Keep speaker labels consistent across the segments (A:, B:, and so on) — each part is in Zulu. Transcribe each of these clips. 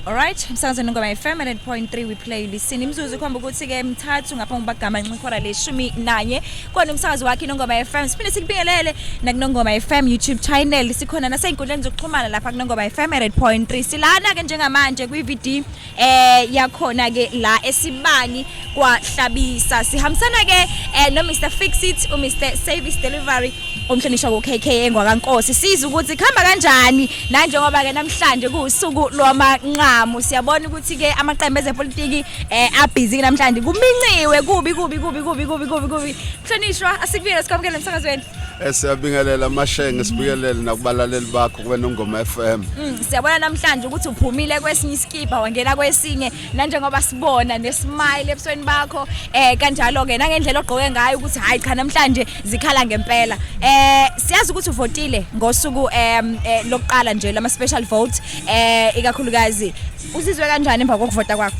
A: Alright, msakazweni ngoma FM 100.3 we play listen. Imzuzu ikhomba ukuthi ke mthathu ngaphambi kokuba gama nxihora leshumi nanye. Kona umsakazi wakhe Nongoma FM. Siphinde sikubingelele nakuNongoma FM YouTube channel. Sikhona nasey'nkundleni zokuxhumana lapha kuNongoma FM 100.3. Silana ke njengamanje kwi-VD eh yakhona ke la esibani kwahlabisa sihambisana ke eh, no Mr Fix It u Mr Service Delivery umhlonishwa ku KK engwakankosi siza ukuthi khamba kanjani nanjengoba ke namhlanje kuusuku lwamanqamu siyabona ukuthi ke amaqembu ezepolitiki eh abhizi namhlanje kuminciwe kubi kubi kubi kubi kubi kubi kubi mhlonishwa asikubiyele sikwamukele emsakazweni eh, siyabingelela
B: amashenge sibukelele nakubalaleli bakho kube nongoma FM mm, siyabona namhlanje
A: ukuthi uphumile kwesinye isikibha wangena kwesinye nanjengoba sibona nesmile ebusweni bakho eh kanjalo ke nangendlela ogqoke ngayo ukuthi hayi cha namhlanje zikhala ngempela eh siyazi ukuthi uvotile ngosuku em eh, lokuqala nje lama special vote eh ikakhulukazi uzizwe kanjani emva kokuvota kwakho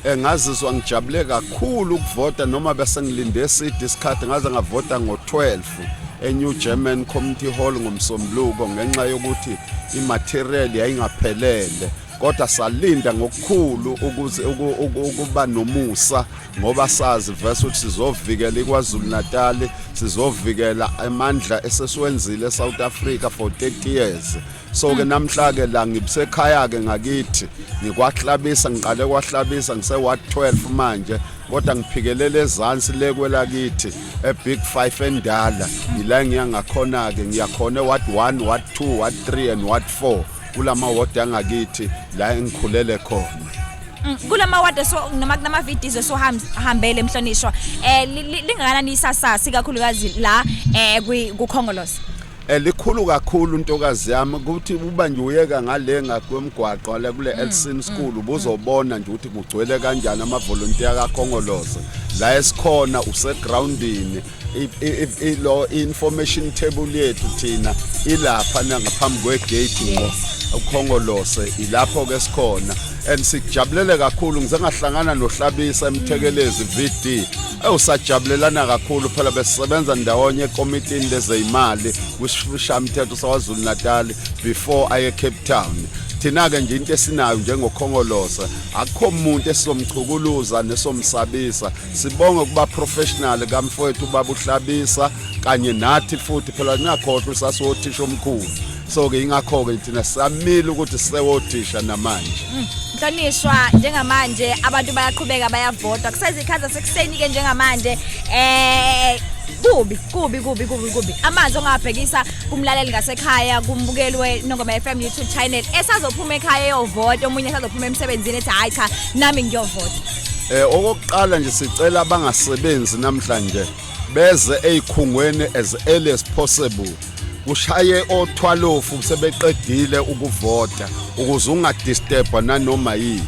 A: Eh, ngazizwa
B: ngijabule kakhulu ukuvota noma bese ngilinde eside isikhathi ngaze ngavota ngo-12 eNew German Community Hall ngomsombuluko ngenxa yokuthi imaterial yayingaphelele kodwa salinda ngokukhulu ukuze ukuba nomusa ngoba sazi verse ukuthi sizovikela iKwaZulu Natal sizovikela amandla esesiwenzile eSouth Africa for 30 years so ke hmm. namhla ke la ngibusekhaya ke ngakithi ngikwahlabisa ngiqale kwahlabisa ngise ward 12 manje kodwa ngiphikelele ezansi le kwelakithi ebig 5 endala yila ngiyangakhona ke ngiyakhona ward 1 ward 2 ward 3 and ward 4 kulama ward angakithi la engikhulele khona Mm, kulama ward
A: so noma kunama videos esohambele emhlonishwa eh li- li- lingakanani isasasa ikakhulukazi la eh kwi- kukhongolose elikhulu
B: kakhulu intokazi yami ukuthi uba nje uyeka ngale ngakwemgwaqo la kule Elsin School ubuzobona nje ukuthi kugcwele kanjani amavolunteer kaKhongolose la esikhona usegroundini ilo information table yethu thina ilapha nangaphambi kwegate ngqo ukhongolose ilapho ke sikhona and sikujabulele kakhulu ngize ngahlangana nohlabisa emthekelezi VD ewusajabulelana kakhulu phela besisebenza ndawonye ekomitini lezeyimali kwishamthetho sawaZulu Natal before aye Cape Town thina-ke nje into esinayo njengokhongolosa akukho muntu esizomchukuluza nesomsabisa sibonge kuba professional kamfowethu ubaba uhlabisa kanye nathi futhi phela niyakhohlwa usasothisha omkhulu so ke ingakho ke thina samile ukuthi sewothisha namanje mm. Nhlonishwa
A: njengamanje abantu bayaqhubeka bayavota kusezikhaza sekuseni ke njengamanje eh kubi kubi kubi kubi kubi amanzi ongabhekisa kumlaleli ngasekhaya kumbukelwe nongoma FM YouTube channel esazophuma ekhaya eyovota omunye esazophuma emsebenzini ethi hayi cha nami ngiyovota Eh okokuqala
B: nje sicela abangasebenzi namhlanje beze ezikhungweni as early as possible kushaye othwalofu sebeqedile ukuvota ukuze ungadisturba nanoma yini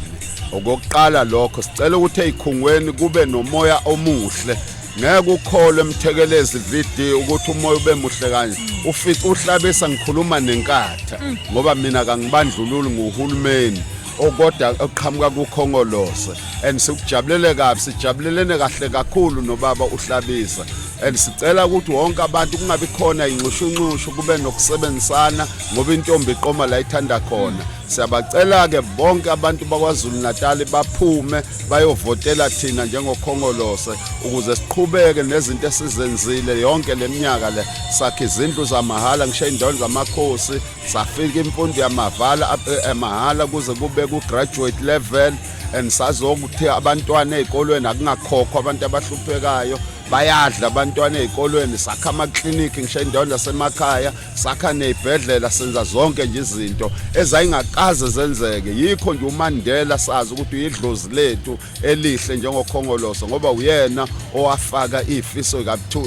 B: okokuqala lokho sicela ukuthi ezikhungweni kube nomoya omuhle ngeke ukholwe emthekelezi VD ukuthi umoya ube muhle kanje ufica uhlabisa ngikhuluma nenkatha ngoba mina kangibandlululi nguhulumeni okoda oqhamuka kukhongolose and sikujabulele kabi sijabulelene kahle kakhulu nobaba uhlabisa and sicela ukuthi wonke abantu kungabi khona inxushunxushu kube nokusebenzisana ngoba intombi iqoma la ithanda khona siyabacela-ke bonke abantu bakwazulu-natali baphume bayovotela thina njengokhongolose ukuze siqhubeke nezinto esizenzile yonke le minyaka le sakhe izindlu zamahhala ngisho iy'ndaweni zamakhosi safika imfundo yamavala emahala eh, kuze kube ku-graduate level and sazokuthi abantwana ey'kolweni akungakhokhwa abantu abahluphekayo bayadla abantwana ey'kolweni sakha amaklinikhi ngisho indawo nasemakhaya sakha ney'bhedlela senza zonke nje izinto ezayingakaze zenzeke yikho nje umandela sazi ukuthi uyidlozi lethu elihle njengokhongoloso ngoba uyena owafaka ifiso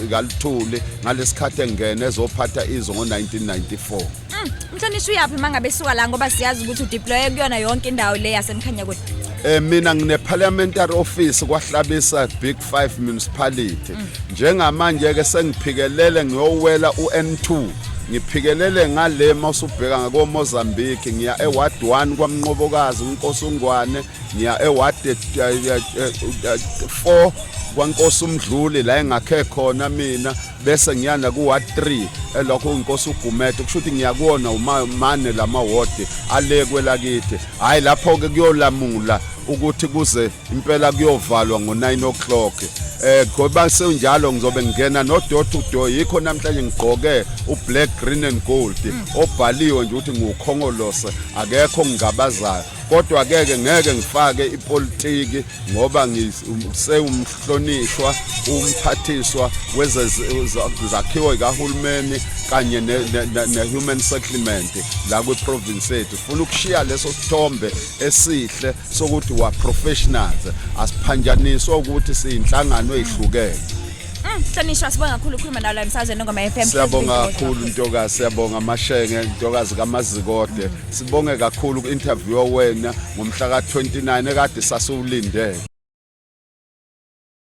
B: ikaluthuli ngalesikhathi engena ezophatha izwe ngo-1994 mm, mhlonishwa
A: uyaphi uma ngabe suka la ngoba siyazi ukuthi udeploye kuyona yonke indawo le yasemkhanya kude Eh mina ngine
B: parliamentary office kwahlabisa Big 5 municipality mm. njengamanje ke sengiphikelele ngiyowela uN2 ngiphikelele ngale mawusubheka ngakoMozambique ngiya eWard 1 kwaMnqobokazi uNkosungwane ngiya eward 4 kwankosi umdluli la engakhe khona mina bese ngiyana ku ward 3 elokho inkosi ugumede kusho ukuthi ngiyakuona umane lama ward ale kwelakithi hayi lapho ke kuyolamula ukuthi kuze impela kuyovalwa ngo 9 o'clock eh ngoba senjalo ngizobe ngingena no door to door yikho namhlanje ngigqoke u black green and gold obhaliwe nje ukuthi ngukhongolose akekho ngigabazayo kodwa keke ngeke ngifake ipolitiki ngoba ngisewumhlonishwa umphathiswa wezakhiwo zikahulumeni kanye ne-human settlement la kwiprovince yethu funa ukushiya leso sithombe esihle sokuthi wa-professionals asiphanjaniswa ukuthi siyinhlangano eyihlukene Hlonishwa sibonga
A: kakhulu ukukhuluma nawe la emsazweni ngoma FM. Siyabonga kakhulu
B: ntokazi, siyabonga amashenge, ntokazi kaMazikode. Sibonge kakhulu ku-interview wena ngomhla ka-29 ekade sasiwulindele.